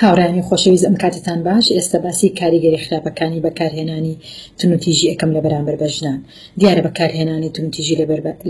هاوڕێیانی خۆشەویست ئەم کاتتان باش ئێستا باسی کاریگەری خراپەکانی بەکارهێنانی تونوتیژی ئەکەم لە بەرامبەر بە ژنان دیارە بەکارهێنانی تونوتیژی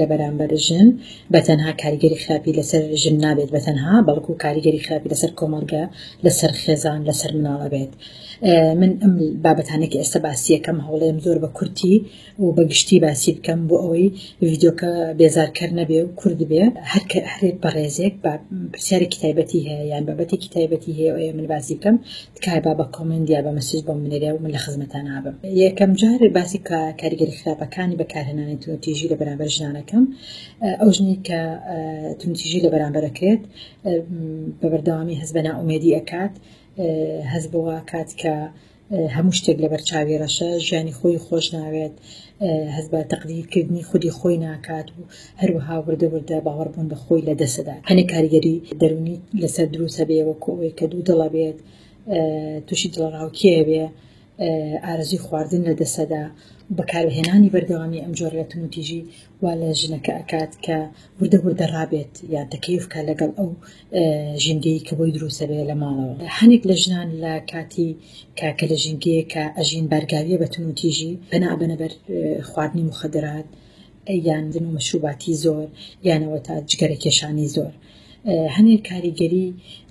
لە بەرامبەر ژن بە تەنها کاریگەری خراپی لەسەر ژن نابێت بە تەنها بەڵکو کاریگەری خراپی لەسەر کۆمەڵگە لەسەر خێزان لەسەر مناڵە بێت من ئەم بابەتانێکی ئێستا باسیەکەم هەوڵێم زۆر بە کورتی و بە گشتی باسی بکەم بۆ ئەوەی ڤیدۆکە بێزارکەر نەبێ و کورد بێ هەرکە هەرێک بەڕێزێک بە پرسیارێکی تایبەتی هەیە یان بابەتێکی تایبەتی هەیە ئەوە من باسی بکەم تکای با بە کۆمنت یا بە مەسیج بۆ منێرە و من لە خزمەتان نابم یەکەم جار باسی کە کاریگەری خراپەکانی بەکارهێنانی تونتیژی لە بەرامبەر ژنانەکەم ئەو ژنی کە تونتیژی لە بەرامبەرەکرێت بە بەردەوامی هەز بە ناومێدی ئەکات هەز بەوە کات کە هەموو شتێک لەبەر چاوی ڕەشە ژیانی خۆی خۆش ناوێت هەز بە تەقدیرکردنی خودی خۆی ناکات و هەروەها وردە وردە باوەڕبوون بە خۆی لە دەسەدا هەنێ کاریگەری دەرونی لەسەر دروسە بێ وەکو ئەوەی کە دوو دڵە بێت تووشی دڵڕاوکیە بێ ئارزی خواردن لە دەسەدا بەکارهێنانی بەردەوامی ئەم جۆرەتموتیژی وا لە ژنەکە ئەکات کە وردە وردە ڕابێت یان تەکەیف کا لەگەڵ ئەو ژینگەی کە بۆی دروسەبێ لە ماڵەوە هەنێک لە ژنان لە کاتی کاکە لە ژینگەیە کە ئەژین بارگاویە بە تون و تیژی پەنا بەنەبەر خواردنی مخدرات یان دن و مەشروباتی زۆر یانەوە تا جگەرە کێشانی زۆر هەنێک کاریگەری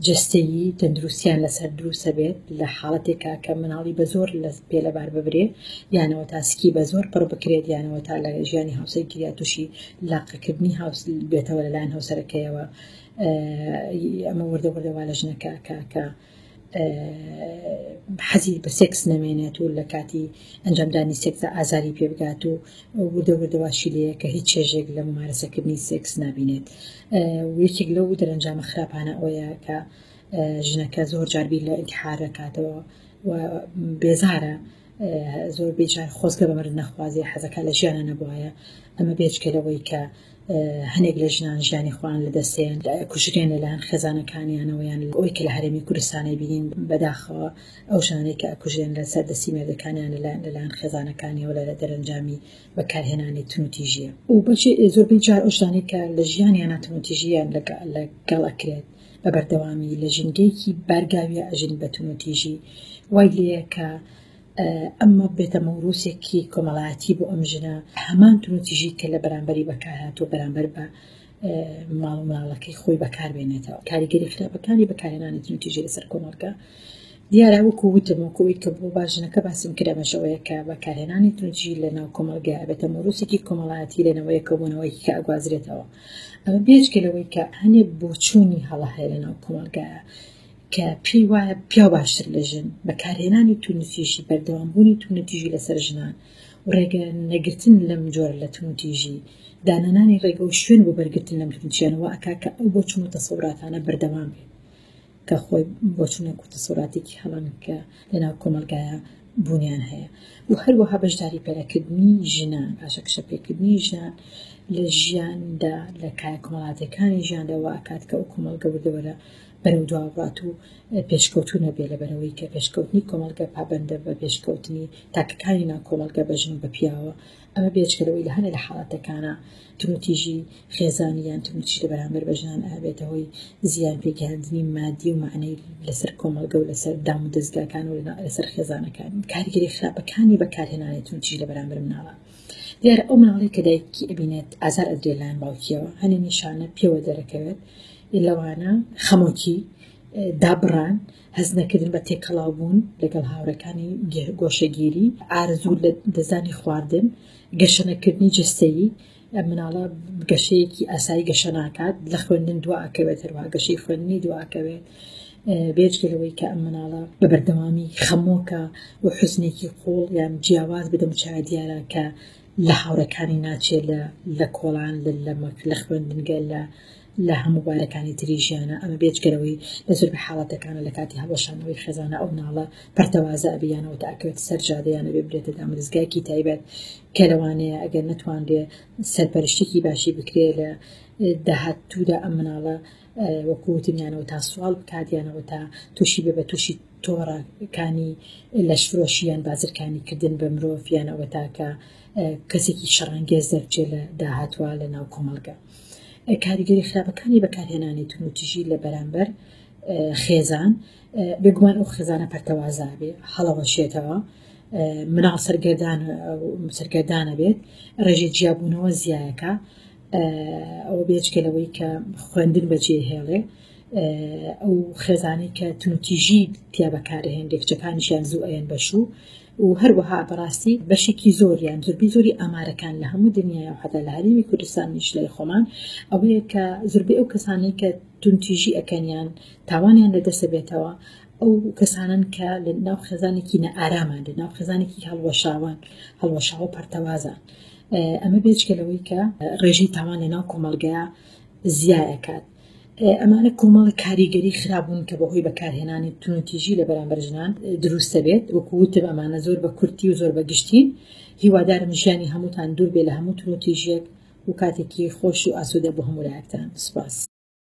جەستەیی تەندروستیان لەسەر دروستە بێت لە حاڵەتێکا کە مناڵی بە زۆر لە پێ لەبار ببرێ یانەوە تاسکی بە زۆر پڕ بکرێت یانەوە تا لە ژیانی هاوسەر گریا تووشی لاقەکردنی هاوس بێتەوە لەلایەن هاوسەرەکەیەوە ئەمە وردە وردەوا لە ژنەکە کاکە حەزی بە سێکس نەمێنێت و لە کاتی ئەنجامدانی سێکسدا ئازاری پێبگات و وردە وردەواشی لەیە کە هیچ چێژێک لە ممارەسەکردنی سێکس نبینێت یەکێک لەو دەرەنجامە خراپانە ئەوەیە کە ژنەکە زۆر جاربی لە ئینتحارەکاتەوە و بێزارە زۆر بێجار خۆزگە بە مرد نەخوازیە حەزەکە لە ژیانە نەبواە ئەمە بێچکە لەوەی کە هەنێک لە ژنان ژیانی خۆیان لەدەستێن کوژرێن لەلایەن خێزانەکانیانەوەیان ئەوەی کە لە هەرێمی کوردستانی بینین بەداخەوە ئەو ژانەی کە ئەکوژێن لە سەر دەستی مێردەکانیان لەلایەن خێزانەکانیەوە لە دەرەنجامی بەکارهێنانی تونوتیژیە و بەشی زۆربەی جار ئەو ژانەی کە لە ژیانیانە تونوتیژیان لەگەڵ ئەکرێت بە بەردەوامی لە ژینگەیەکی بارگاویە ئەژین بە تونوتیژی وای لەیە کە ئەمە بێتە مەوروسێکی کۆمەڵایەتی بۆ ئەم ژنە هەمان تونوتیژی کە لە بەرامبەری بەکارهات و بەرامبەر بە ماڵ و مناڵەکەی خۆی بەکاربێنێتەوە کاریگەری خراپەکانی بەکارێنانی تونوتیژی لەسەر کۆمەڵگە دیارە وەکو وتم و کویت کە بۆ باژنەکە باسم کرەمەشەوەیە کە بەکارهێنانی تونجی لە ناو کۆمەلگە بێتە مۆروسێکی کۆمەڵایەتی لەنەوەیە کەبوونەوەیکی کە ئەگوازرێتەوە ئەمە بێجگە لەوەی کە هەنێ بۆچوونی هەڵە هەیە لە ناو کۆمەلگایە کە پێی وایە پیاو باشتر لە ژن بەکارهێنانی تونتیژی بەردەوامبوونی تونتیژی لەسەر ژنان و ڕێگە نەگرتن لەم جۆر لە تونتیژی دانانانی ڕێگە و شوێن بۆ بەرگرتن لەم تونتیانەوە ئەکا کە ئەو بۆچون و تەسەوراتانە بەردەوام بێت کە خۆی بۆچونە کو تەسەوراتێکی هەڵن کە لەناو کۆمەلگایە بوونیان هەیە و هەروەها بەشداری پێرەکردنی ژنان پاشە کشە پێکردنی ژنان لە ژیاندا لە کایە کۆمەڵاتەکانی ژیاندەوە ئەکات کە ئەو کۆمەڵگە وردەوەرە بەرەو دوا بات و پێشکەوتو نەبێ لە بەرەوەی کە پێشکەوتنی کۆمەڵگە پابندە بە پێشکەوتنی تاکەکانی نا کۆمەلگە بە ژن و بە پیاوە ئەمە بێچکەرەوەی لە هەنێ لە حاڵاتەکانە تونوتیژی خێزانی یان تونوتیژ لە بەرامبەر بە ژنان ئابێتە هۆی زیان پێکهاندنی مادی و معنەی لەسەر کۆمەلگە و لەسەر دام و دەستگاکان و لەسەر خێزانەکان کارگەری خراپەکانی بەکارهێنانی تونتیژ لە بەرامبەر مناڵە دیارە ئەو مناڵەی کە دایکی ئەبینێت ئازار ئەدرێ لایەن باوکیەوە هەنێ نیشانە پێوە دەرەکەوێت لەوانە خەمۆکی دابڕان هەز نەکردن بە تێکەڵاو بوون لەگەڵ هاوڕەکانی گۆشەگیری ئارزوو لە دەزانی خواردن گەشەنەکردنی جستەیی مناڵە گەشەیەکی ئاسایی گەشە ناکات لە خوێندن دواکەوێت هەروە گەشەی خوێندنی دواکەوێت بێجگە لەوەی کە ئەم مناڵە بە بەردەوامی خەمۆکە و حزنێکی قوڵ یان جیاواز بدەم چای دیارە کە لە هاوڕەکانی ناچێت لە لە کۆڵان لە لەمەک لە خوێندنگە لە لە هەموو بارەکانی تری ژیانە ئەمە بێجگەرەوەی لە زۆر بە حاڵەتەکانە لە کاتی هەڵەشانەوەی خێزانە ئەو ناڵە پەرتەوازە ئەبیانەوە تاکەوێت سەر جادەیانە بێ برێتە دامرزگایکی تایبەت کە لەوانەیە ئەگەر نتوانرێ سەرپەرشتێکی باشی بکرێ لە داهاتوودا ئەم مناڵە وەکو وتنیانەوە تا سوال بکاتیانەوە تا تووشی بێ بە تووشی تۆڕەکانی لەشفرۆشیان بازرکانی کردن بە مرۆڤیانەوە تاکە کەسێکی شەڕانگێز دەرچێ لە داهاتوە لە ناو کۆمەڵگە کاریگەری خراپەکانی بەکارهێنانی تونوتیژی لە بەرامبەر خێزان بێگومان ئەو خێزانە پەرتەوازا بێ هەڵەوەشێتەوە مناڵ سەرگەردان سەرگەردانە بێت ڕێژەی جیابوونەوە زیایەکە ئەوە بێجگە لەوەی کە خوێندن بەجێ هێڵێ ئەو خێزانی کە تونوتیژی تیا بەکارهێن دێکچەکانیشیان زوو ئەەن بەشوو و هەروەها بەڕاستی بەشێکی زۆریان زوربی زۆری ئامارەکان لە هەموو دنیا و حتا لە هەرمی کوردستان نیشلای خۆمان ئەوەیە کە زوربی ئەو کەسانی کە تونتیژی ئەەکەنیان تاوانیان لە دەسە بێتەوە ئەو کەسانن کە لە ناو خێزانێکی نە ئارامان لە ناو خێزانێکی هەڵوەشاوان هەڵوەشاوە پەرتەوازان. ئەمە بێچکە لەوەی کە ڕێژەی تاوان لە ناو کۆمەلگا زیایەکات ئەمانە کۆمەڵە کاریگەری خراببوون کە بەهۆی بەکارهێنانی تونوتیژی لە بەرامبەر ژنان دروستە بێت وەکووتب ئەمانە زۆر بە کورتی و زۆر بەگشتین هیوادارم ژیانی هەمووتان دوور بێ لە هەموو تونوتیژێک و کاتێکی خۆش و ئاسوودە بۆ هەمولایەکتان سپاس.